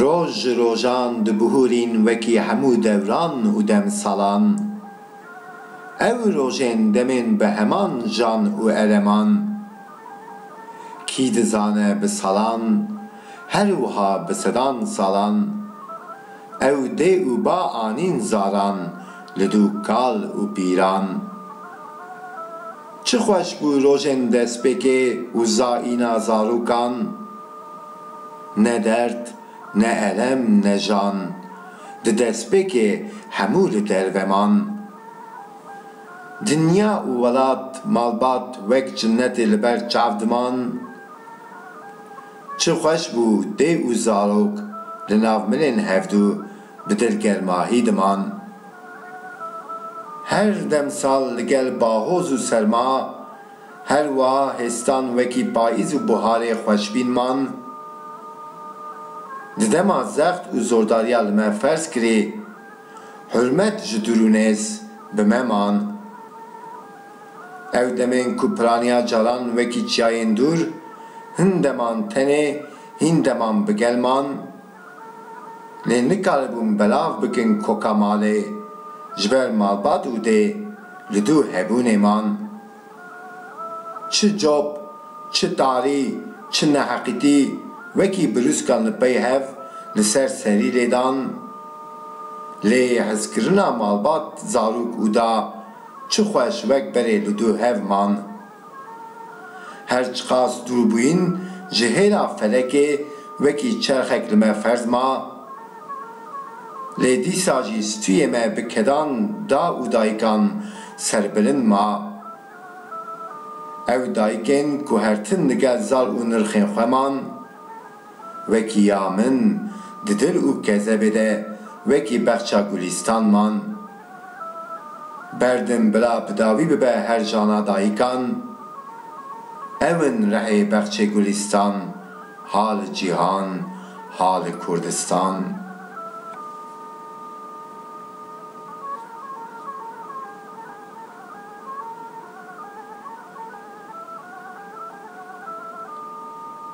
Roj ji rojan dibihûrîn wekî hemû dewran û demsalan. Ew rojên demên bi heman jan û ereman. Kî dizane bi salan Her wiha bi sedan salan. Ew dê û ba anîn zaran li dû kal û pîran. Çi xweş bû rojên destpêkê û zaîna zarokan. Ne derd, ne elem, ne jan. Di destpêkê hemû li derve man. Dinya û welat malbat wek cinnetê li ber çav diman. Çi xweş bû dê û zarok li nav milên hevdu bi dilgermahî diman. Her demsal li gel bahoz û serma, her wiha hêstan wekî payîz û buharê xweşbîn man. Di dema zext û zordariya li me ferz kirî, hurmet ji dûr û nêz bi me man. Ew demên ku piraniya caran wekî çiyayên dûr, hin deman tenê, hîn deman bi gel man. Lê nikaribûn belav bikin koka malê, ji ber malbat û dê li dû hebûnê man. Çi cop, çi tarî, çi neheqîtî wekî birûskan li pey hev li ser serî lê dan. Lê hezkirina malbat zarok û da, Çi xweş wek berê li du hev man. Her çiqas dûr bûyîn ji hêla felekê wekî çerxek li me ferz ma. Lê dîsa jî stûyê me bi kedan da û dayikan serbilind ma. Ew dayikên ku her tim li gel zal û nirxên xwe man. Wekî ya min di dil û kezebê de wekî bexça gulîstan man. Berdim bila bi dawî bibe her jana dayikan. Ew in rehê bexçê gulîstan, ha li cîhan, ha li Kurdistan.